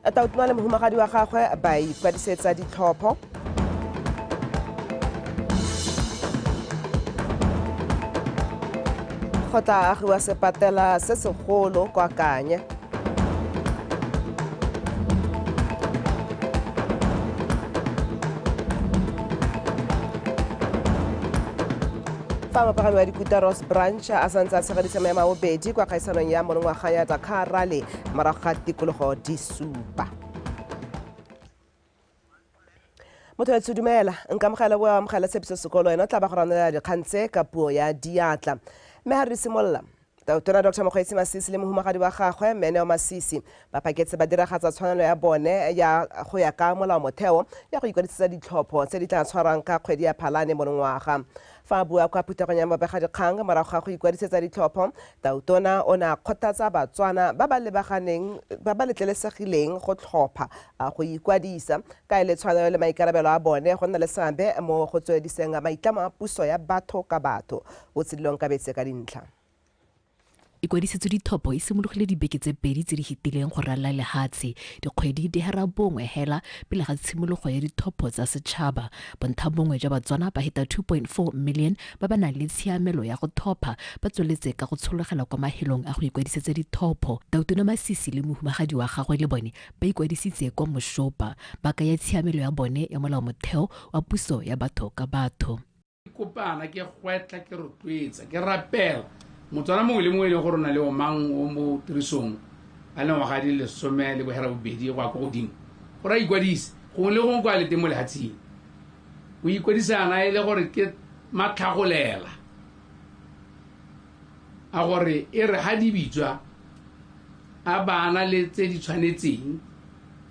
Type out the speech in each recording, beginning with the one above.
tautuma le mohumagadi wa gagwe ba ikwadisetsa ditlhopho go tla agiwa sepatela se segolo kwa kanye fa mopagami wa dikuta ross branch a santse a tshegedisa maya mabobedi kwa kgaisanong ya monongwaga ya dakar rally morago ga tikologo di supa motho etse dumela nka mogela boa amogela tshepiso sekolo ena o tla ba go ranela dikgang tse ka puo ya diatla mme ga re simolola Tona Doctor Mokgweetsi Masisi le mohumagadi wa gagwe Mme Neo Masisi ba phaketse ba diragatsa tshwanelo ya bone ya go ya ka molao motheo ya go ikwadisetsa ditlhopho tse di tla tshwarang ka kgwedi ya Phalane monongwaga. Fa a bua kwa phuthegong ya babegadikgang morago ga go ikwadisetsa ditlhopho, Tautona o ne a kgothatsa Batswana ba ba lebaganeng ba ba letlelesegileng go tlhopha a go ikwadisa ka e le tshwanelo le maikarabelo a bone go nna le seabe mo go tswelediseng maitlamo a puso ya batho ka batho. O tshedile Onkabetse ka dintlha. Ikwadisetso Dithopo e simologile dibeke tse pedi tse di fetileng go ralala lehatshe. Dikgwedi di hera bongwe hela pele ga tshimologo ya Dithopo tsa Setšhaba. Bonthabongwe jwa Batswana ba heta 2.4 million ba ba nang le tshiamelo ya go thopha ba tsweletse ka go tshologela kwa mahelong a go ikwadisetsa dithopo. Tautona Masisi le mohumagadi wa gagwe le bone ba ikwadisitse kwa Moshopa, ba kaya tshiamelo ya bone ya molaomotheo wa puso ya batho ka batho. ke kopana ke gwetla ke rotloetsa ke rapela motswana mongwe le mongwe e leng gore o na le omang o mo tirisong a le ngwaga di lesome le bohera bobedi go ya ko godimo gore a ikwadise gongwe le gongwe kwa le teng mo lehatsheng o ikwadisana e le gore ke matlhagolela a gore e re ha di bitswa a bana le tse di tshwanetseng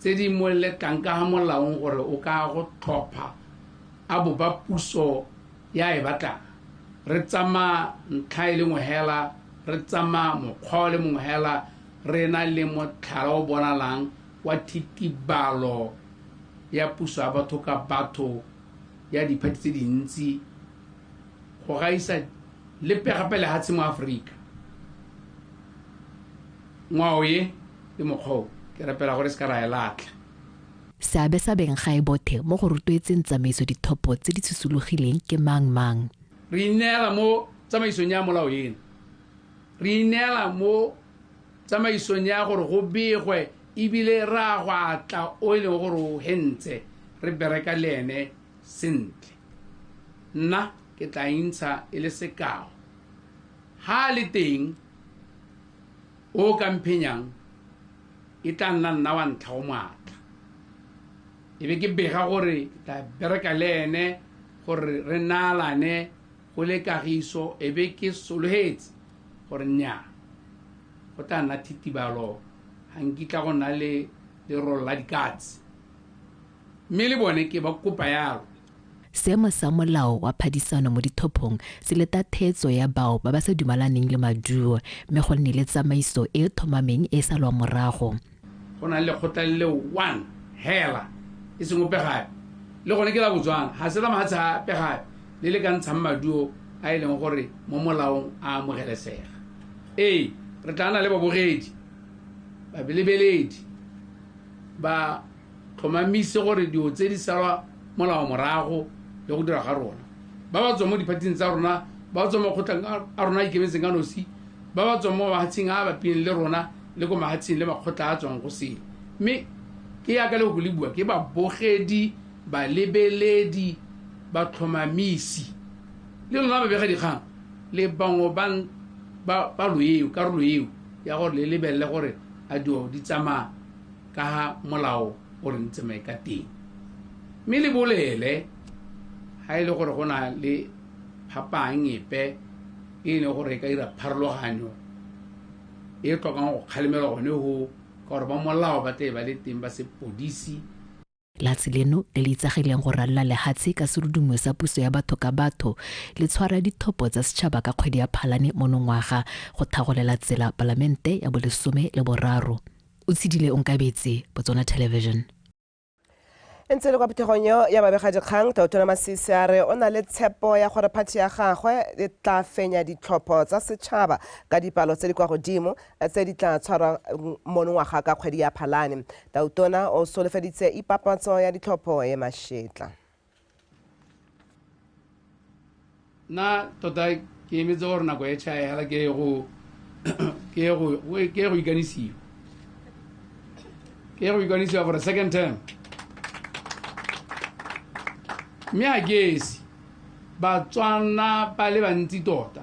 tse di mo lekang ka ga molaong gore o ka go tlhopha a bo ba puso ya e batlang re tsamaya ntlha e le nngwe hela re tsamaya mokgwa o le mongwe hela re na le motlhala o bonalang wa thitibalo ya puso ya batho ka batho ya diphathi tse dintsi go gaisa lepe gape lehatshe mo aforika ngwao ye le mokgwa o ke rapela gore se ka ra e latlha Seabe sa beng ga e bothe mo go rotloetseng tsamaiso dithopo tse di tshosologileng ke mang mang? Re ineela mo tsamaisong ya molao eno. Re ineela mo tsamaisong ya gore go begwe e bile re a go atla o e leng gore o hentse re bereka le ene sentle. Nna ke tla intsha e le sekao. Ga a le teng O o ka mphenyang e tla nna nna wa ntlha o moatla. E be ke bega gore ke tla bereka le ene gore re naalane go le kagiso e be ke sologetse gore nnyaa go tla nna thitibalo ga nkitla go nna le lerolo la dikatse mme le bone ke ba kopa yalo. Seemo sa molao wa phadisano mo dithophong se leta theetso ya bao ba ba sa dumalaneng le maduo mme go nne le tsamaiso e e thomameng e e salwang morago. Go na le lekgotla le le one hela, e seng ope gape, le gone ke la Botswana, ga se la mafatshe ape gape, le le ka ntshang maduo a e leng gore mo molaong a amogelesega. Ee, re tlaa nna le babogedi, babelebeledi ba. Tlhomamise gore dilo tse di salwa molao morago le go dira ga rona. Ba ba tswang mo diphathing tsa rona, ba ba tswang mo makgotleng a rona a ikemetseng ka nosi, ba ba tswang mo mahatsheng a a bapileng le rona le ko mahatsheng le makgotla a a tswang go sele. Mme ke yaka lefoko le bua, ke babogedi, balebeledi, batlhomamisi. Le lona babegadikgang le bangwe ba karolo eo ya gore le lebelele gore a dilo di tsamaya ka ha molao o re ntsamaye ka teng mme le bolele ha e le gore go na le phapang epe e ne gore e ka dira pharologanyo e tlhokang go kgalemelwa gone go ka gore ba molao ba tle ba le teng ba sepodisi Latsy leno le le itsagileng go ralola lehatshe ka serudumo sa puso ya batho ka batho, le tshwara dithopo tsa setšhaba ka kgwedi ya Phalane monongwaga go thagolela tsela Palamente ya bolesome le boraro. Otshidile Onkabetse, Botswana Television. E ntse e le kwa phuthegong eo ya babegadikgang, Tautona Masisi a re o na le tshepo ya gore phathi ya gagwe e tla fenya ditlhopho tsa setšhaba ka dipalo tse di kwa godimo, tse di tla tshwarwang monongwaga ka kgwedi ya Phalane. Tautona o solofeditse ipapatso ya ditlhopho e mašetla. Nna tota ke emetse gore nako e tšhae hela ke ye go ke ye go ke ye go ikanisiwa ke ye go ikanisiwa for a second term mme a ke esi batswana ba le bantsi tota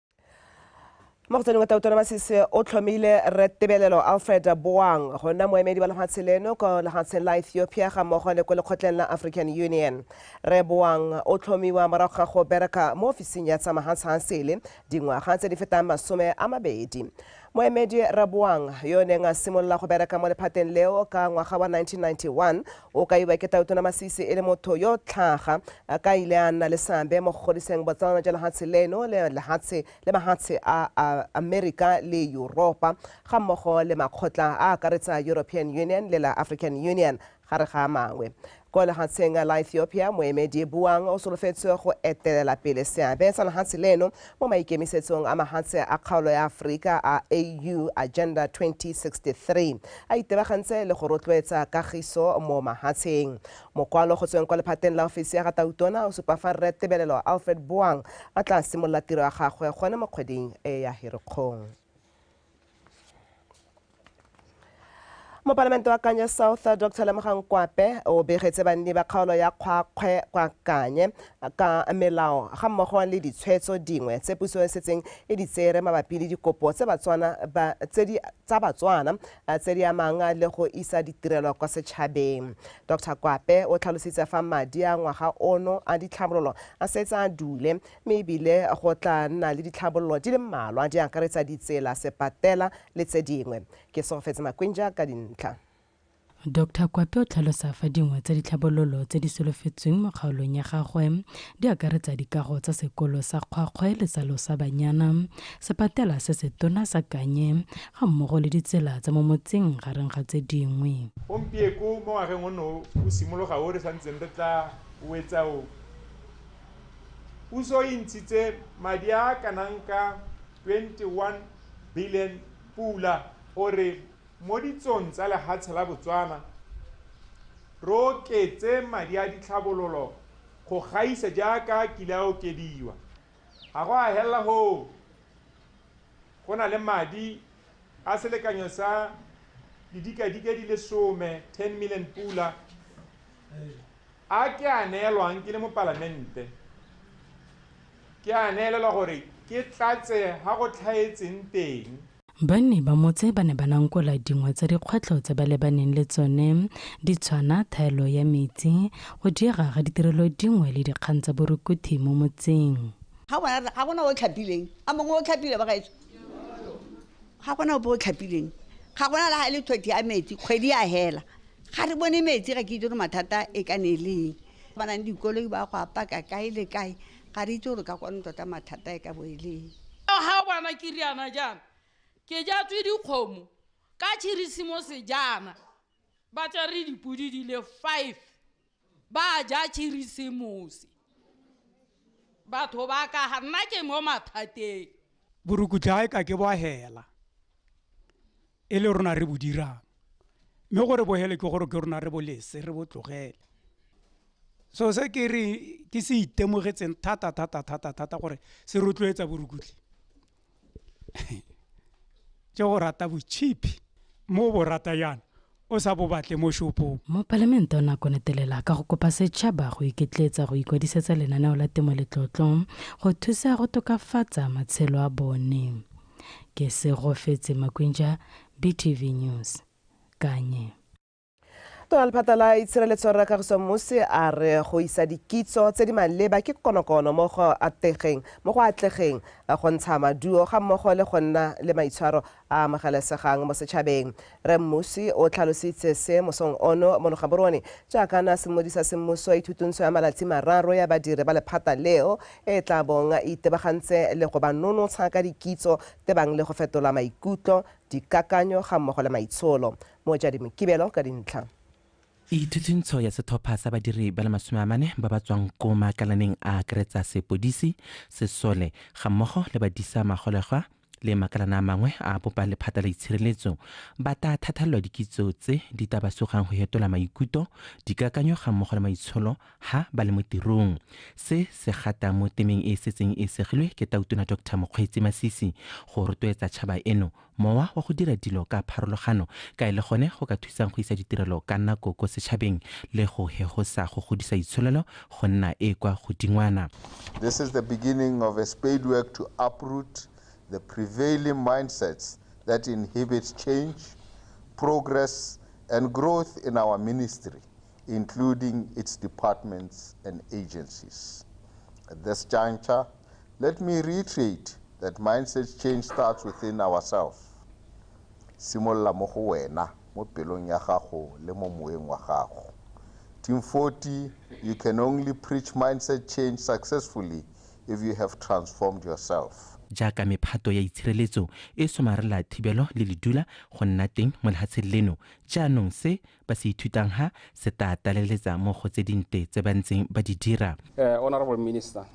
mo go tsene wa tautona masese o tlhomile re tebelelo alfred boang go nna moemedi wa lefatshe leno ko lefatsheng la ethiopia ga mmogo le ko lekgotleng la african union re boang o tlhomiwa morago ga go bereka mo ofising ya tsa mahatshansele dingwaga tse di fetang masome a mabedi Moemedi Raboang, yo o neng a simolola go bereka mo lephateng leo ka ngwaga wa 1991, o kaiwa ke Tautona Masisi e le motho yo tlhaga a ka ile a nna le seabe mo go godiseng botsalano jwa lehatshe leno le lehatshe le mahatshe a Amerika le Yuropa ga mmogo le makgotla a akaretsa European Union le la African Union Gare ga a mangwe, kwa lehatsheng la Ethiopia, moemedi e buang o solofetswe go etelela pele seabe sa lehatshe leno mo maikemisetsong a mahatshe a kgaolo ya Aforika a AU Agenda 2063. A itebagantse le go rotloetsa kagiso mo mahatsheng. Mokwalo go tsweng kwa lephateng la ofisi ya ga Tautona o supa fa Rre Tebelelo Alfred Boang a tla simolola tiro ya gagwe gone mo kgweding e ya Herikgong. mopalamente wa kanye south dr lemogang kwape o begetse banni ba kgaolo ya kgwakgwe kwa kanye ka melao ga mmogo le ditshwetso dingwe tse puso e setseng e di tsere mabapi le dikopo tsa batswana tse di amang le go isa ditirelo kwa setšhabeng dr kwape o tlhalositse fa madi a ngwaga ono a ditlhabololo a setse a dule mme ebile go tla nna le ditlhabololo di le mmalwa di akaretsa ditsela, sepatela le tse dingwe. Ke Solofetse Makwinja ka dintlha. Doctor Kwape o tlhalosa fa dingwe tsa ditlhabololo tse di solofetsweng mo kgaolong ya gagwe di akaretsa dikago tsa sekolo sa Kgwakgwe le sa Losabanyana, sepatela se setona sa Kanye ga mmogo le ditsela tsa mo motseng gareng ga tse dingwe. Gompieko mo ngwageng ono o simologa o re sa ntseng re tla o etsa o. Puso e ntshitse madi a a kanang ka 21 billion pula gore mo ditsong tsa lehatshe la Botswana re oketse madi a ditlhabololo go gaisa jaaka a kile a okediwa. Ga go a helela hoo, go na le madi a selekanyo sa didikadike di le some, 10 million pula, A ke a neelwang ke le mo Palamente? Ke a neelelwa gore ke tlatse ga go tlhaetseng teng. Banni ba motse ba ne ba nankola dingwe tsa dikgwetlho tse ba lebaneng le tsone di tshwana thaelo ya metsi, go diega ga ditirelo dingwe le dikgang tsa borukuthi mo motseng. Ga go na, ga go na o tlhapileng. A mongwe o tlhapile, bagaetsho? Ga go na ope o tlhapileng. Ga go na le ga e le thothi ya metsi, kgwedi ya hela. ga re bone metsi ga ke itse gore mathata e ka ne e leng ba nang dikoloi ba go apaka kae le kae ga re itse gore ka kwane tota mathata e ka bo e leng ga bana ke riana jaana ke jatswe dikgomo ka tšhirisimose jaana ba tsere dipodi di le five ba ja khirisemosi batho ba ka ga nna ke mo mathateng borukutlae ka ke bohela e le rona re bo dirang mme gore bohele ke gore ke rona re bolese re botlogele so se ke re ke se itemogetseng thata thata thata thata gore se rotloetsa borukutlhi ke go rata botšhipi mo bo rata yana o sa bo batle mo shopong mopalamente o ne a konetelela ka go kopa setšhaba go iketletsa go ikwadisetsa lenaneo la temo letlotlo go thusa go tokafatsa matshelo a bone ke segofetse makwinja btv news kanye tona lephata la itshireletso rra kagiso mose a re go isa dikitso tse di maleba ke konokono mo go ategeng mo go atlegeng go ntsha maduo ga mmogo le go nna le maitshwaro a amogelesegang mo setšhabeng re mmusi o tlhalositse se mosong ono mo logaborone jaaka na semodi sa semmuso ithutuntsho ya malatsi mararo ya badiri ba lephata leo e tla bong e itebagantse le go ba nonotsha ka dikitso tebang le go fetola maikutlo dikakanyo ga mmogo le maitsholo Motsadi Mokibelo ka dintlha. Ithuthintsho ya setlhopha sa badiri ba le masome a mane ba ba tswang ko maakalaneng a akaretsa sepodisi, sesole ga mmogo le badisa magolegwa le makalana a mangwe a bopa lephata la itshireletso ba ta thathalelwa dikitso tse di ta ba sugang go hetola maikuto dikakanyo ga mmogo le maitsholo ha ba le mo tirong se se gata mo temeng e e setseng e segilwe ke tautona dr mokgweetsi masisi go rotloetsa tšhaba eno Mowa wa go dira dilo ka pharologano ka e le gone go ka thusang go isa ditirelo ka nako ko setšhabeng le go hegosa go godisa itsholelo go nna e kwa godingwana. This is the beginning of a spadework to uproot the prevailing mindsets that inhibit change, progress and growth in our ministry including its departments and agencies. At this juncture, let me reiterate that mindset change starts within ourselves. Simolola mo go wena, mo pelong ya gago le mo moeng wa gago. Team 40, you can only preach mindset change successfully if you have transformed yourself. jaaka mephato ya itshireletso e somarela thibelo le ledula go nna teng mo lehatsheng leno jaanong se ba se ithutang ha se tla tlaleletsa mo go tse dinte tse ba ntseng ba di dira. Uh, Honorable Minister,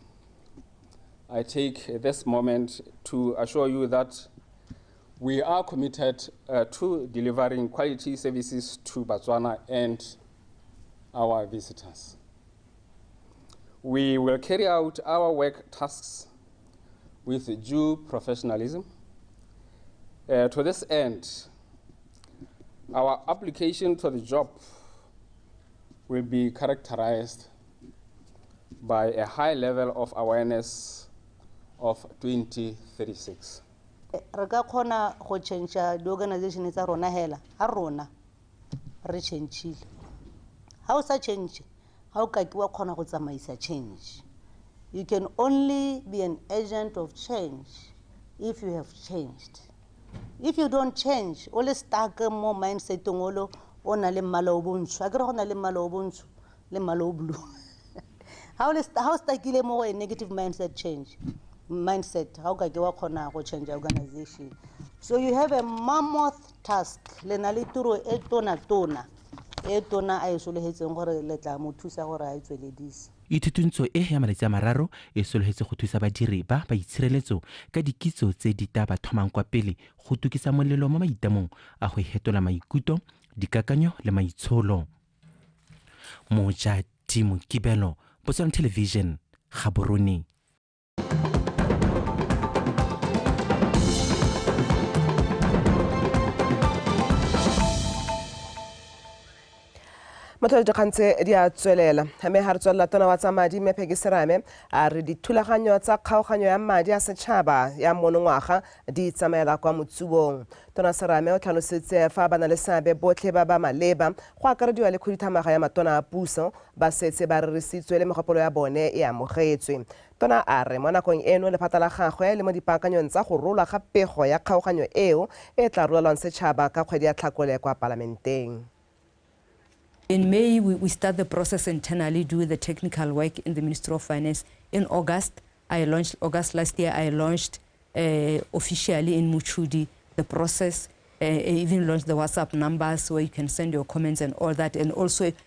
I take this moment to assure you that we are committed uh, to delivering quality services to Botswana and our visitors. We will carry out our work tasks with due professionalism. Uh, to this end, Our application to the job will be characterized by a high level of awareness of 2036. re ka kgona go change-a di-organization tsa rona hela ga rona re change-ile ga o sa change ga o kake wa kgona go tsamaisa change you can only be an agent of change if you have changed if you don't change o le stuck mo mindsetong olo o na le mmala o bontsho a kere go na le mmala o bontsho le mmala o blue ga o le sta- ga o stakile mo go a negative mindset change mindset ga o ka ke wa kgona go change organization so you have a mammoth task le na le tiro e tona tona e tona a e solegetseng gore le tla mo thusa gore a e tsweledise Ithutuntsho e ya malatsi a mararo e sologetse go thusa badiri ba ba itshireletso ka dikitso tse di ta ba thomang kwa pele go tukisa molelo mo maitamong a go hetola maikuto, dikakanyo le maitsholo. Mojati Mokibelo, Botswana Television, Gaborone. mothole dikgang tse di a tswelela mme ga re tswelela tona wa tsa madi mme pheke serame a re dithulaganyo tsa kgaoganyo ya madi a setšhaba ya monongwaga di tsamaela kwa motsubong tona serame o tlhalositse fa ba na le seabe botlhe ba ba maleba go akarediwa le khuduthamaga ya matona a puso Ba setse ba rerisitswe le megopolo ya bone e amogetswe. Tona a re mo nakong eno lephata la gagwe le mo dipaakanyong tsa go rolwa ga pego ya kgaoganyo eo e tla rolelwang setšhaba ka kgwedi ya Tlhakole kwa Palamenteng. In May we we start the process internally do the technical work in the Ministry of Finance in August I launched August last year I launched uh, officially in Muchudi the process uh, even launched the WhatsApp numbers where you can send your comments and all that and also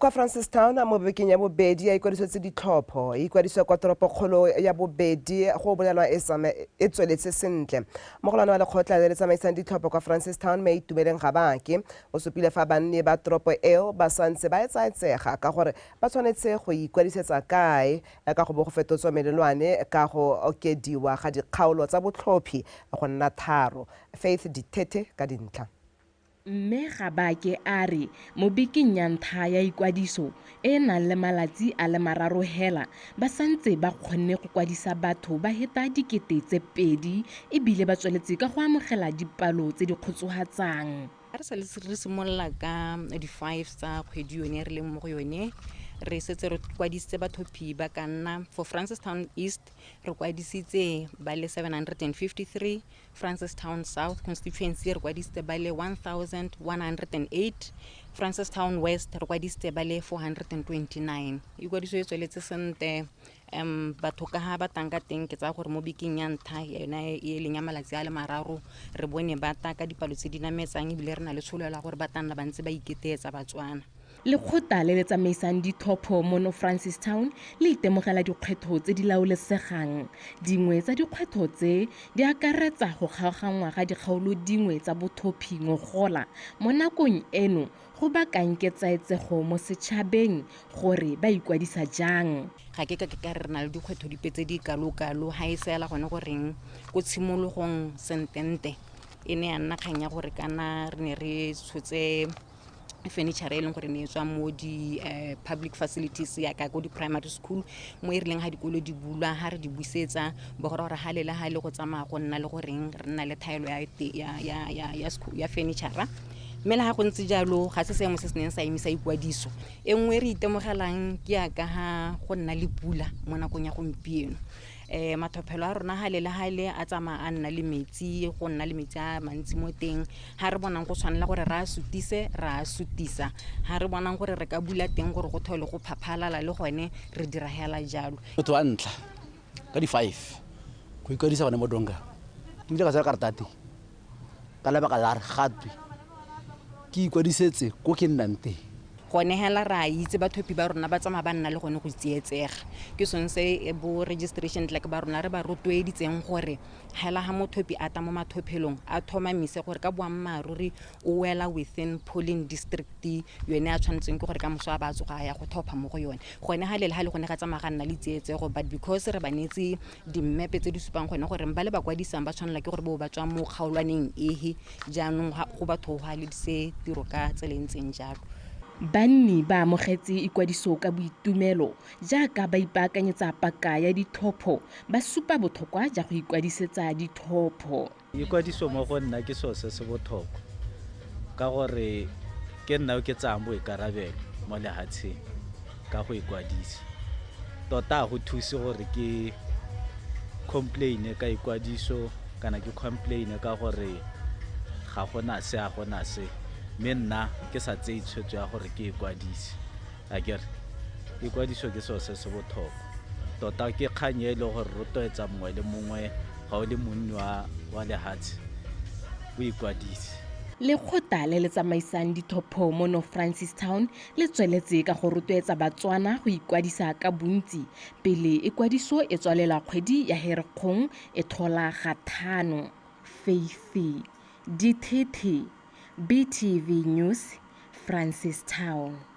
kwa francistown mo bekeng ya bobedi ya ikwadisetse ditlhopho e ikwadiswa kwa toropokgolo ya bobedi go bolelwa e tsama- e tsweletse sentle mogolwane wa lekgotla le le tsamaisang ditlhopho kwa francistown mme itumeleng gabake o supile fa banni ba toropo eo ba santse ba etsaetsega ka gore ba tshwanetse go ikwadisetsa kae ka go bo go fetotswa melelwane ka go okediwa ga dikgaolo tsa botlhophi go nna tharo faith dithethe ka dintlha Mme Gabake a re mo bekeng ya ntlha ya ikwadiso e e nang le malatsi a le mararo hela, ba santse ba kgonne go kwadisa batho ba heta dikete tse pedi e bile ba tsweletse ka go amogela dipalo tse di kgotsohatsang. A re sa le re simolola ka di-fives tsa kgwedi yone re leng mo go yone, re setse re kwadisitse batho phi ba ka nna for Francistown East re kwadisitse ba le 753, Francistown South constituency re kwadisitse ba le 1108, Francistown West re kwadisitse ba le 429. Ikwadiso e tsweletse sentle um batho ka ga ba tang ka teng ke tsaya gore mo bekeng ya ntlha yona e e leng ya malatsi a le mararo re bone ba ta ka dipalo tse di nametsang ebile re na le tsholelo ya gore ba tla nna ba ntse ba iketeetsa batswana Lekgotla le le tsamaisang ditlhopho mono Francistown le itemogela dikgwetlho tse di laolesegang. Dingwe tsa dikgwetlho tse di akaretsa go kgaoganngwa ga dikgaolo dingwe tsa bothophi ngogola mo nakong eno go bakang ketsaetsego mo setšhabeng gore ba ikwadisa jang. Ga ke ka ke ka re re na le dikgwetlho dipe tse di kalokalo, ga e fela gone goreng ko tshimologong sentente e ne ya nna kgang ya gore kana re ne re tshotse furniture e leng gore ne e tswa mo di-public eh, facilities yaka ko di-primary school mo e rileng ga dikolo di bulwa ga re di busetsa bogora gore ga lela ga e le go tsamaya go nna le goreng re nna le thaelo ya furniture mme le ga go ntse jalo ga se seemo se se neng sa emisa ikwadiso e nngwe e re itemogelang ke yaka ga go nna le pula mo nakong ya gompieno um matlhophelo a rona gale le gale a tsamaya a nna le metsi go nna le metsi a mantsi mo teng ga re bonang go tshwanela gore re a sutise re a sutisa ga re bonang gore re ka bula teng gore go thole go phaphalala le gone re dira hela jalo motho wa ntlha ka di-five go ikwadisa gone mo donga ke bile ka tsaya kartate ka lebaka la re gatwe ke ikwadisetse ko ke nnang teng gone hela re a itse bathopi ba rona ba tsamaya ba nna le gone go tsietsega ke sone se e bo registration tlack ba rona re ba rotloeditseng gore hela ga mothopi a tla mo mathophelong a tlhomamise gore ka boammaaruri o wela within polling district yone a tshwanetseng ke gore ka moso a ba tsoga a ya go thopha mo go yone gone ga lele ga le gone ga tsamaya ga nna le tsietsego but because re ba neetse dimmepe tse di supang gone gore ba le ba kwadisang ba tshwanela ke gore bo ba tswa mo kgaolwaneng ehe jaanong go batho go aledise tiro ka tsela e ntseng jalo Banni ba amogetse ikwadiso ka boitumelo jaaka ba ipaakanyetsa paka ya ditlhopho ba supa bothokwa ja go ikwadisetsa ditlhopho. Ikwadiso mo go nna ke seo se se botlhokwa ka gore ke nna yo ke tsayang boikarabelo mo lehatsheng ka go ikwadisa. Tota ga go thuse gore ke complaine ka ikwadiso kana ke complaine ka gore ga gona se a gona se mme nna ke sa tseye tshwetso ya gore ke ikwadise. a kere ikwadiso ke seo se se botlhokwa tota ke kgang e le gore rotloetsa mongwe le mongwe ga o le monni wa lehatshe o ikwadise lekgotla le le tsamaisang dithopho mo no francis town le tsweletse ka go rotloetsa batswana go ikwadisa ka bontsi pele ikwadiso e tswalela kgwedi ya herekgong e tlhola ga thano feifi dithethe BTV News, Francistown.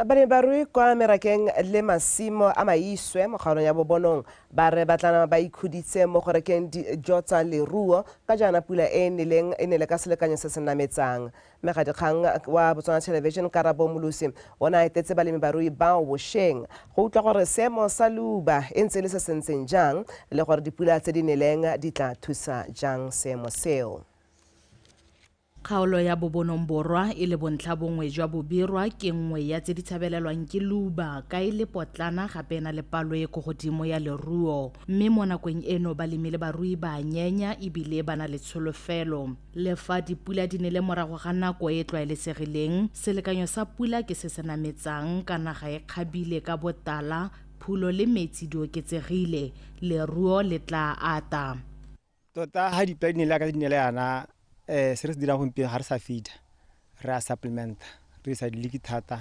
Balebarui kwa merakeng le masimo a Maiswe mo kgaolong ya Bobonong ba re ba tla nama ba ikhuditse mo go rekeng dijo tsa leruo ka jaana pula e e neleng e nele ka selekanyo se se nametsang. Mmegadikgang wa Botswana Television Karabo Molusi o ne a etetse balemibarui bao bosheng go utlwa gore seemo sa leuba e ntse e le se se ntseng jang le gore dipula tse di neleng di tla thusa jang seemo seo. Kgaolo ya Bobonong Borwa e le bontlhabongwe jwa Bobirwa ke nngwe ya tse di tshabelelwang ke leuba ka e le potlana gape e na le palo e ko godimo ya leruo mme mo nakong eno balemi le barui ba nyenya ebile ba na le tsholofelo le fa dipula di ne le morago ga nako e e tlwaelesegileng selekanyo sa pula ke se se nametsang ka naga e kgabile ka botala phulo le metsi di oketsegile leruo le tla ata tota ga di-plan la ka di ne le yana um se re se dirang gompieno ga re sa fida re a supplementa re isa diliki thata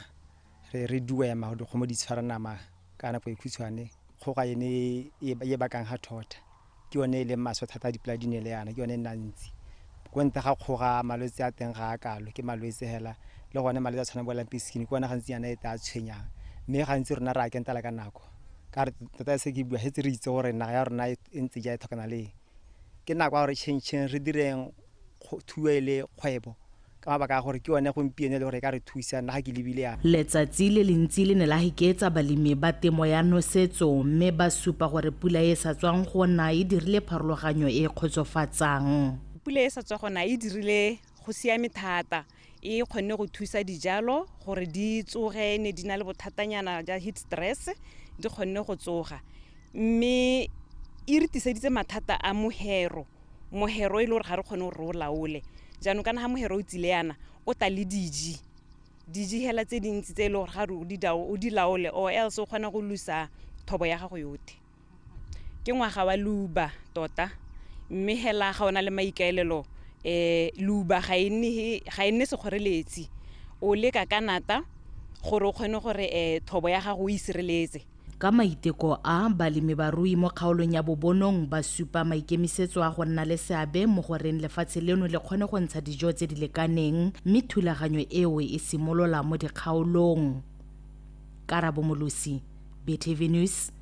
re re duema gore dikgomo di tshwara nama ka nako e khutshwane kgoga ene e- e e bakang ga thotha ke yone e leng maswe thata a dipula di ne le yana ke yone e nna ntsi ko ntle ga kgoga malwetse a teng ga a kalo ke malwetse hela le gone malwetse a tshwana bo lamping skin ke one gantsi yana e tla tshwenyang mme gantsi rona re a kentela ka nako ka re tota se ke bua se tse re itse gore naga ya rona e e ntse ja e tlhokana le eng. ke nako ya gore changcheng re direng kgo- thuo e le kgwebo ka mabaka a gore ke yone gompieno e le gore e ka re thusa nna ga ke lebile ya Letsatsi le lentsi le ne la hiketsa balemi ba temo ya nosetso mme ba supa gore pula e e sa tswang go na e dirile pharologanyo e e kgotsofatsang. Pula e e sa tswa go na e dirile go siame thata. e kgonne go thusa dijalo gore di tsoge ne di na le bothatanyana ja heat stress di kgonne go tsoga mme e re tiseditse mathata a mohero mohero e le gore ga re kgone gore o laole jaanong kana ga mohero o tsile yana o tla le diji diji hela tse dintsi tse e le gore ga o di laole or else o kgona go lusa thobo ya gago yotlhe ke ngwaga wa leuba tota mme hela ga ona le maikaelelo eh leuba ga e nne ga e nne sekgoreletsi o leka ka nata gore o kgone gore eh thobo ya gago o e sireletse Ka maiteko a, balemibarui mo kgaolong ya Bobonong ba supa maikemisetso a go nna le seabe mo go reng lefatshe leno le kgone go ntsha dijo tse di lekaneng mme thulaganyo eo e simolola mo dikgaolong. Karabo Molosi, BTV News,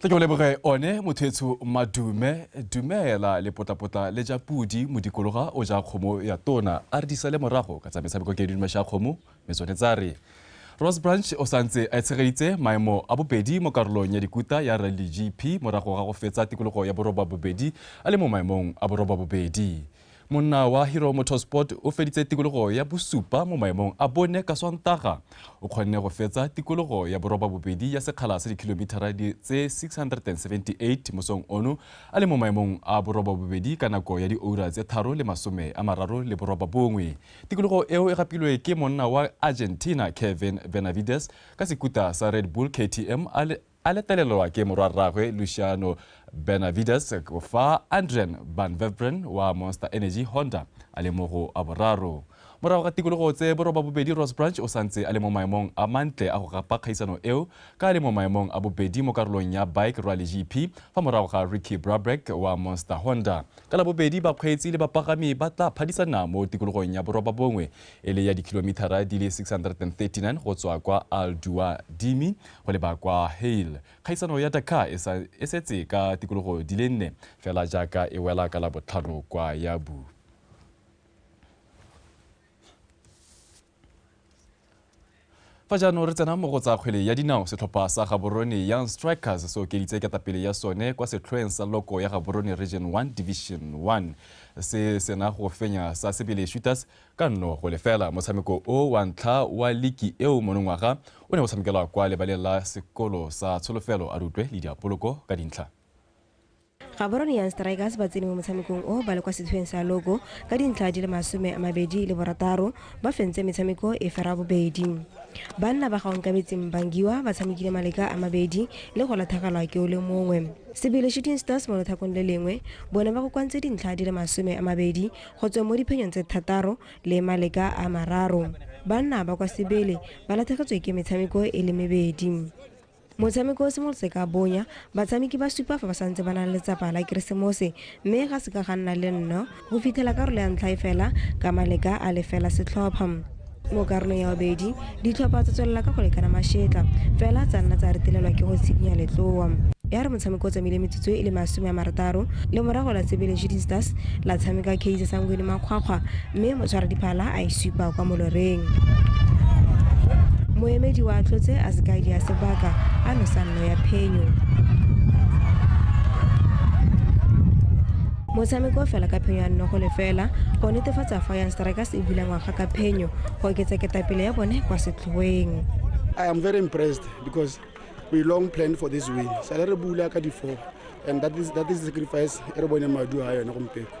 tla ke o leboge one mothetsho madume dumela lepotlapotla le ja pudi modikologa o ja kgomo ya tona a re disa le morago ka tsa metshameko ke didume sha kgomo me tsone tsa re rose branch o santse a tshegeditse maemo a bobedi mo karolong ya dikuta ya rally gp morago ga go fetsa tikologo ya boroba bobedi a le mo maemong a boroba bobedi monna wa hero motorsport o feditse tikologo ya bosupa mo maemong a bone ka swantaga o kgonne go fetsa tikologo ya boroba bobedi ya sekgala sa dikilomithara tse 678 mosong ono a le mo maemong a boroba bobedi ka nako ya dioura tse tharo le masome a mararo le boroba bongwe tikologo eo e gapilwe ke monna wa argentina kevin benavides ka sekuta sa red bull ktm a le A letlelelwa ke morwarraagwe Luciano Benavides fa Andrian Van Veveren wa Monster Energy Honda a le mo go a boraro. Morago ga tikologo tse borobabobedi Ross Branch o santse a le mo maemong a mantle a go gapa kgaisano eo ka a le mo maemong a bobedi mo karolong ya Bike Rally GP fa morago ga Ricky Brabeck wa Monster Honda. Ka Labobedi bakgweetsi le bapagami ba tla phadisana mo tikologong ya borobabongwe e le ya dikilomithara di le 639 go tswa kwa al dua dimi go leba kwa hale kgaisano ya dakar e, e setse ka tikologo di le nne fela jaaka e wela ka la botlhano kwa yabu Fa jaanong re tsena mo go tsa kgwele ya dinao, setlhopha sa Gaborone Young Strikers se okeditse ketapele ya sone kwa setlhoeng sa loko ya Gaborone Region 1 Division 1 se sena go fenya sa Sebele Shooters ka nno go lefela. Motshameko o wa ntlha wa liki eo monongwaga o ne o tshamekelwa kwa lebaleng la sekolo sa Tsholofelo. A re utlwe Lydia Poloko ka dintlha. gaborone young strikers ba tsene mo motshamekong o ba le kwa setlhoeng sa logo ka dintlha di le masome a mabedi le borataro ba fentse metshameko e fera bobedi banna ba gaonkabetseng bangiwa ba tshamekile maleka a mabedi le go latlhagelwa ke o le mongwe sebele shooting stars mo lothakong le lengwe bone ba kokoantse dintlha di le masome a mabedi go tsweng mo diphenyong tse thataro le maleka a mararo banna ba kwa sebele ba latlhegetswe ke metshameko e le mebedi Motshameko o simolotse ka bonya, batshameki ba supa fa ba santse ba nang letsapa la Keresemose mme ga se ka ga nna le nno go fitlhela karolo ya ntlha e fela ka maleka a le fela setlhopha. Mo karolong ya bobedi, ditlhopha tsa tswelela ka go lekana mašetla fela tsa nna tsa retelelwa ke go tshikinya letloa. Ya re motshameko o tsamaile metsotso e le masome a marataro le morago la Sebele Shooting Stars la tshameka Kaizer Sangweni makgwakgwa, mme motshwaradiphala a e supa kwa moloreng moemedi wa tlotse a sekaedi ya sebaka a nosa nno ya phenyo motshameko fela ka phenyo ya nnogo lefela go netefatsa fa yang strikers e bula ngwaga ka phenyo go oketsa ketapele ya bone kwa setlhoeng I am very impressed because we long planned for this win. Sale re bula ka di-four and that is, that is the sacrifice e re bone madu a yone gompieko.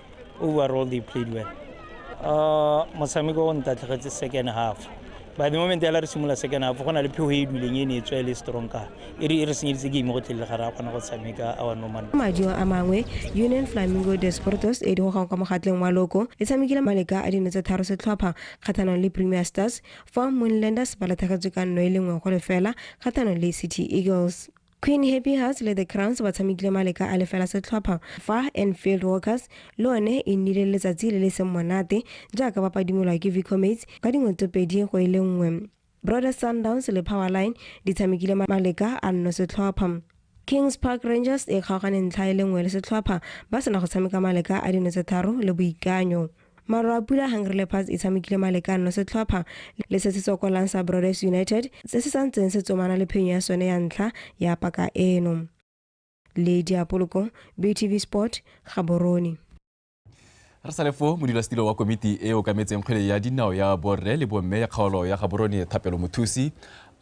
overall they played well uh, motshameko o ntatlhegetse second half by the moment ela re simolola second half go na le phego e e duleng e ne e tswa e le strong ka e re e re senyeditse game go tlele ga re a kgona go tshameka our normal madi a mangwe union flamingo desportos e di gogang kwa mogatleng wa loko e tshamekile maleka a dino tse tharo setlhopha kgathanong le premier stars fa moonlanders ba lathagetswe ka nno e le nngwe go lefela kgathanong le city eagles Queen Happy Hearts le The Crowns ba tshamekile maleka a lefela setlhopha fa Enfield Walkers le one e nnile letsatsi le le seng monate jaaka ba padimolwa ke Vicomates ka dingwe tse pedi go e le nngwe. Brothers Sundowns le Powerline di tshamekile maleka a nno setlhopha. Kings Park Rangers e kgaogane ntlha e le nngwe le setlhopha ba sena go tshameka maleka a dino tse tharo le Boikanyo. Maru a pula Hungry Leopards e tshamekile malekano setlhopha le se se tsokolang sa Broders United se se santseng se tsomana le phenyo ya sone ya ntlha ya paka eno. Le Diapoloko, BTV Sport, Gaborone. Re sale foo modulasetilo wa komiti e okametseng kgwele ya dinao ya borre le bomme ya kgaolo ya Gaborone Thapelo Mothusi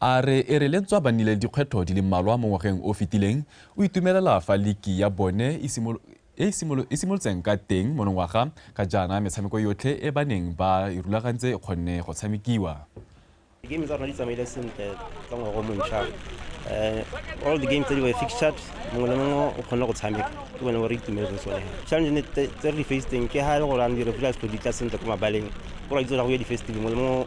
a re e re lentswa ba nnile le dikgwetlho di le mmalwa mo ngwageng o fetileng o itumelela fa liki ya bone e e e simolotseng ka teng monongwaga ka jaana metshameko yotlhe e ba neng ba e rulagantse e kgonne go tshamekiwa. Di-game tsa rona di tsamaile sentle ka ngwaga o montšha um all the game tse di were fixtured mongwe le mongwe o kgonne go tshameka ke bone bo re itumetse tsone challenge tse re di facetseng ke ga e le gore ane di-refree a se di tla sentle ko mabaleng o ra itse go ya di-festival mongwe le mongwe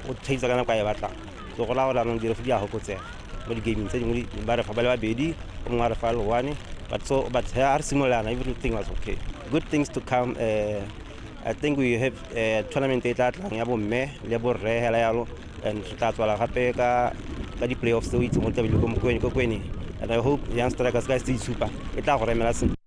o thaisa ka nako a e batlang so go raya gore anong di-refree di a gokotsega mo di-gaming tse dingwe ba refa ba le babedi o mongwe a refa le one but so but ha re simolana everything was okay good things to come uh, i think we have uh, tournament e tla tlang ya bomme le borre hela yalo and re tla tswala gape ka ka di-playoffs tse o itse mo tlabele ko mokwene ko kwene and i hope young strikers ka se itshupa e tla go remela sentle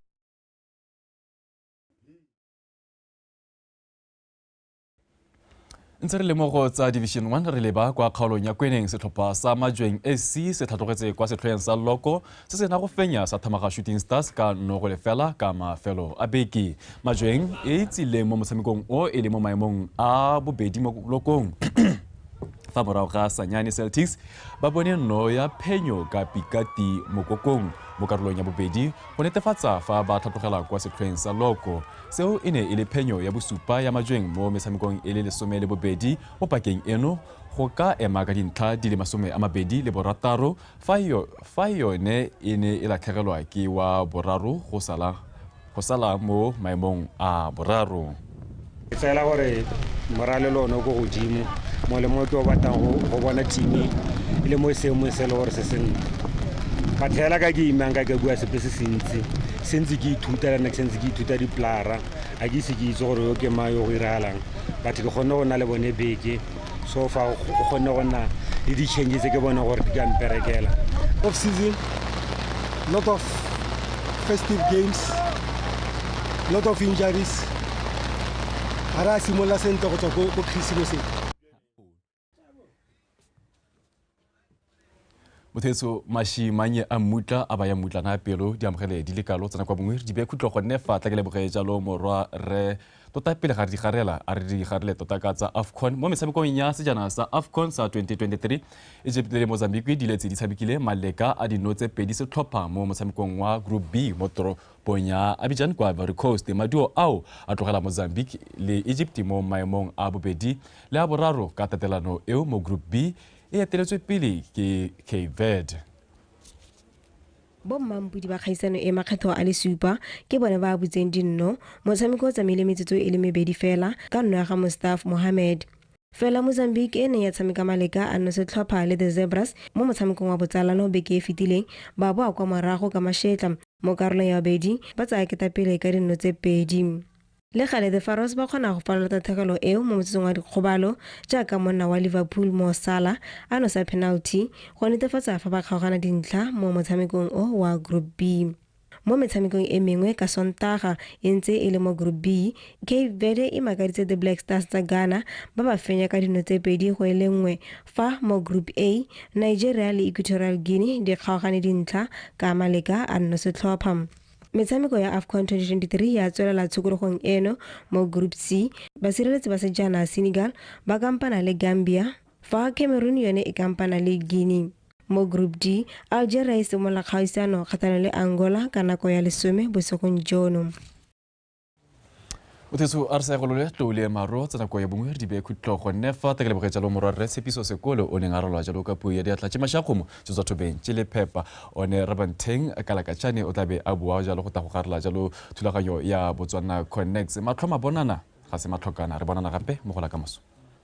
ntse re lemogo tsa division 1 re leba kwa kgaolong ya kweneng setlhopha sa majweng ac se tlhatlogetse kwa setlhoeng sa loko se se na go fenya sa thamaga shooting stars ka nogo lefela ka mafelo a beke majweng e tsileng mo motshamekong o e le mo maemong a bobedi mo lokong fa morago ga sanyane celtics ba bone nno ya phenyo ka pikati mokokong mo karolong ya bobedi go netefatsa fa ba tlhatlogela kwa setlhoeng sa loko Seo e ne e le phenyo ya bosupa ya majweng mo metshamekong e le lesome le bobedi mo pakeng eno go ka ema ka dintlha di le masome a mabedi le borataro fa e yone e ne e latlhegelwa ke wa boraro go sala mo maemong a boraro. Ke fela gore moralelo o ne o ko godimo mo le mo ke o batlang go bona thimi e le mo seemong se e le gore se sentle. But fela ka ke imang ka ke bua sepe se se ntsi. sentse ke ithuta lana ke sentse ke ithuta dipolara ga ke ise ke itse gore yo ke mang yo go iragalang but ke kgonne go nna le bone beke so fa o kgonne go nna le di-change tse ke bone gore di ka mperekela off season lot of festive games lot of injuries ga re a simolola sentle go tswa ko christmaseng motheso mashimanye a mmutla a baya mmutla nga pelo di amogele di le kalo tsena kwa bongwe di be khutlo gonne fa tla ke leboge jalo morwa re tota pele ga re digarela a re digarele tota ka tsa afcon mo metshamekong ya sejana sa afcon sa 2023 egypt le mozambique di letse di tshamekile maleka a dinotse pedi setlhopha mo motshamekong wa group b mo pong ya Abidjan kwa Ivory Coast. Maduo ao a tlogela Mozambique le Egypt mo maemong a bobedi le a boraro ka tatelano eo mo Group B e eteletswe pele ke Cape Verde. bommampudi ba kgaisano e makgetho a le supa ke bone ba butseng dinno motshameko o tsamaile metsotso e le mebedi fela ka nno ya ga mustaf mohammed Fela Mozambique e neng ya tshameka maleka a nosetlhopha le The Zebras mo motshamekong wa botsalano beke e fetileng, ba boa kwa morago ka mašetla mo karolong ya babedi ba tsaya ketapele ka dinno tse pedi. Le gale, The Pharaohs ba kgona go falola tatlhegelo eo mo motsotsong wa dikgobalo jaaka monna wa Liverpool Mo Salah a nosa penalty go netefatsa fa ba kgaogana dintlha mo motshamekong o wa Group B. Mo metshamekong e mengwe ka Sontaga e ntse e le mo Group B, Cape Verde e makaditse The Black Stars tsa Ghana ba ba fenya ka dino tse pedi go e le nngwe fa mo Group A, Nigeria le Equatorial Guinea di kgaogane dintlha ka maleka a nnosetlhopha. Metshameko ya Afcon 2023 ya tswelela tshokologong eno mo Group C, basireletsi ba sejana Senegal ba kampana le Gambia fa Cameroon yone e kampana le Guinea. Mo Group D, Algeria e simolola kgaisano kgatlhanong le Angola ka nako ya lesome bosigong jono. Uthesu a re sa egolole tlou le maro tsa nako ya bongwe re di bee khutlo gonne fa ta ke leboge jalo morwa rre tshepiso sekole o neng a ralwa jalo ka puo ya diatla tše mašakgomo tše tswa thobeng tše le phepa one rabantheng kalakatšane o tla be a bua jalo go tla go garela jalo thulaganyo ya botswana connects matlho mabonana ga se matlhokana re bonana gape mo gola ka moso